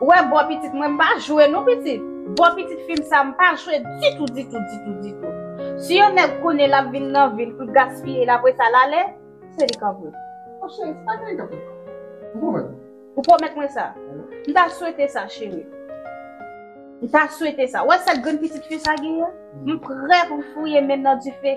Ou wè bo pitit mwen m pa jwe non pitit. Bo pitit fim sa m pa jwe ditou ditou ditou ditou. Si yon nèg konnen lap vin nan vil poul gaspiye l apresa l ale, se li kap wè. Bon cheri se pa genyen kap wè. Ou pwomèt m? Ou pwomèt mwen sa? M ta swete sa cheri. M ta swete sa. Ou wè sèl grenn pitit fi sa genyen? M prè pou m fouye menm nan dife.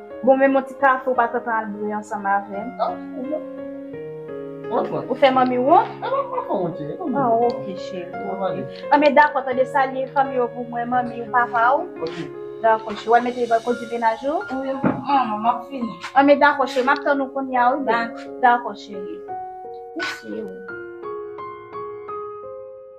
Bon men mon ti kafe ou pa tantan al bwe ansanm avèm. Ah ou menm. Wont wont. Ou fè manmi wont? Ah manmi pa fè wont cheri. Ah ok cheri. Bon ale. Ah men dakò tande salye fanmi yo pou mwen manmi ou papa ou. Ok. Dakò cheri. Wal mete bal kondi menaj ou? Wi manman map fini. Ah men dakò cheri map tann ou kounya wi boo. Dakò cheri. Mesi.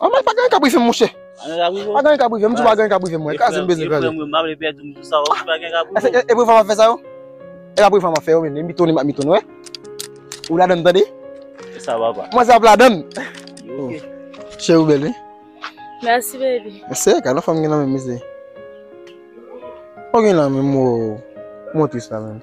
An mwen pa gen kap rive mouche. Pa gen kap rive mouche pa gen kap rive mwen. Kase m bezwen kase. E pou fwa mwen fè sa yo. E la pou fwa mwen fè yo men. Mwen mitouni mwen mitouni wè. Ou la dan m tande. Mwen sa ap la dan. Che ou bel wè. Merci baby. Ese ka nan fwa mwen gen nan men mese. Mwen gen nan men mou. Mwen tris la men.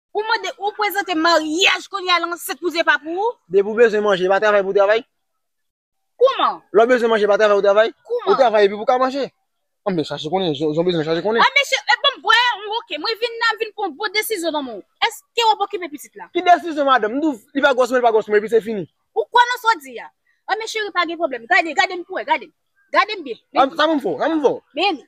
Ou mande ou prezante maryaj kounye a l ansent pou se pa pou ou? Depi ou bezwen manje, pa travay pou travay? Kouman? Lè w bezwen manje pa travay pou travay? Kouman? Ou travay epi pou ka manje? An mwen chache konnen, jan w bezwen chache konnen. A mesye, e banm bwè yon woke, mwen vin la m vin pran bon desizyon nan men w. Eske w ap okipe pitit la? Ki desizyon madanm? M di w, li pa gwòs mwen, li pa gwòs mwen epi se fini. Ou kwè nan sa w di a? An men cheri pa gen pwoblèm, gade, gade m pou wè, gade m. Gade m byen, men li. Sa pou m fè w? Sa pou m fè w? Men li.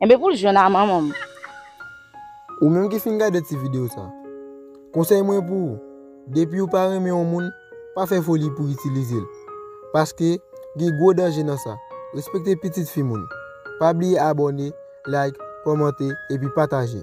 Enben pou l jwenn a manman m. Ou menm ki fin gade ti video sa, konsèy mwen pou ou, depi ou pa renmen yon moun, pa fè foli pou itilize l. Paske, gen gwo danje nan sa. Respekte pitit fi moun. Pa bliye abòne, like, kòmante, epi pataje.